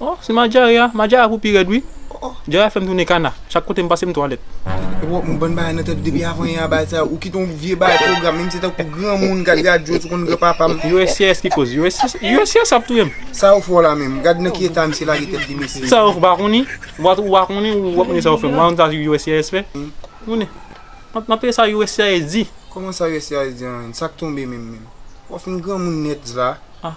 Oh se Madjary a, Madjary a pou pi rèd wi, Djary a fèm tounen kana, chak kote m pase m twalèt. Epi wap moun bann bagay nan tèt ou depi avan yè a bagay sa ou kite yon vye bagay pwogram menm se tankou granmoun gad radyo sou konn gran papam. Uscis ki koz uscis ap touyem. Sa ou fè w la menm? Gad nan ki eta misye lage tèt li mesye. Sa ou fè w pa konnen? Ou pa ou pa konnen ou ap mande sa ou fè. Ou pa konn sa uscis fè? Tounen. Map tande sa uscis di. Kòman sa uscis di an menm? Sak tonbe menm menm? Wap fin granmoun nèt zla. Ah.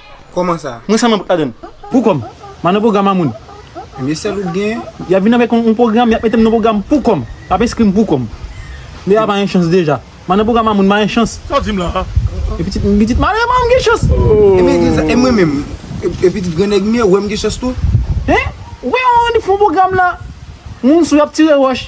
Koman sa? Mwen sanm ladann. Pou kòm. M'a nan pwogram a moun. Ebyen sèl ou k gen. Yap vin avèk yon pwogram, yap metem nan pwogram pou kòm. Lap enskrim pou kòm. Lea pa yon chans deja. M'a nan pwogram a moun, m'a yon chans. Sa w di m la a? E pitit m, pitit malere pa wè m gen chans. Ebyen di l sa, e mwen menm? E pitit gran nèg m yo wè m gen chans tou? Hein? Ou pa wè yon randefou yon pwogram la? Moun sou yap tire wòch.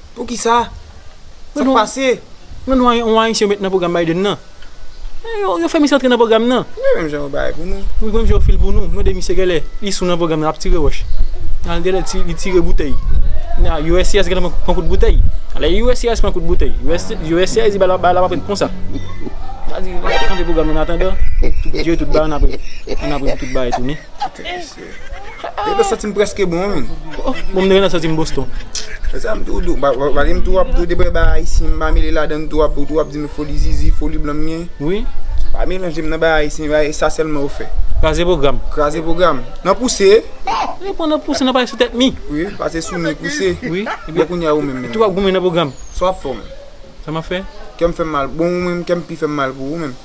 Poukisa? Sak pase? Mwen nou yon ayisyen yo met nan pwogram Biden nan. Yo fè misye antre nan pwogram nan. Gade menm jan yo bay pou nou. Gade menm jan yo fil pou nou. Mande misye genlè li sou nan pwogram nan lap tire wòch. Nan genlè li tire boutèy. Nan uscis genlè pran kout boutèy. Lè uscis pran kout boutèy. Uscis di ba lap pran kout konsa. Sa di lap antre pwogram nan annatandan. Tout diyo tout ba annatandan. Annatandan tout ba e tounen. Mwen santi m preske bon menm. Bon m te gentan santi m Boston. E sa m tou dou. Paske m tou ap tou debay bagay ayisyen m pa mele ladann tou ap ou tou ap di m foli zizi, foli blan m gen. Wi. Pa melanje m nan bagay ayisyen yo e sa sèlman yo fè. Kraze pwogram. Kraze pwogram. Nan pouse. Ni pou nan pouse nan pase sou tèt mi. Wi. Pase sou mi pouse. Wi. E pi kounye a ou menm menm. Tou ap goumen nan pwogram. Sa w ap fè w menm. Sa m ap fè? Kè m fè m mal. Bon ou menm kè m pi fè m mal pou ou menm.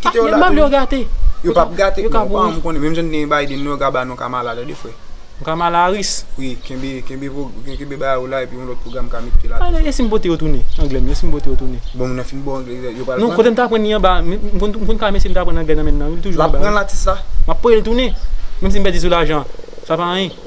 Kite yo la Bab yo gate. Yo pap gate non pa m konnen menm jan n gen Biden nou yo ka ba nou Kamala tande frè. Kamala Harris. Wi kenbe kenbe kenbe bagay ou la epi yon lòt pwogram ka mete la tou frè. Esim pote yo tounen anglè m yo esim pote yo tounen. Bon mwen fin bon anglè yo pral pran. Non kote m t aprann li anba m konn ka mesye m t aprann anglè nan menn nan wi li toujou anba. Lap pran l atis la. Map pote l tounen menm si m pèdi sou lajan sa pa anyen.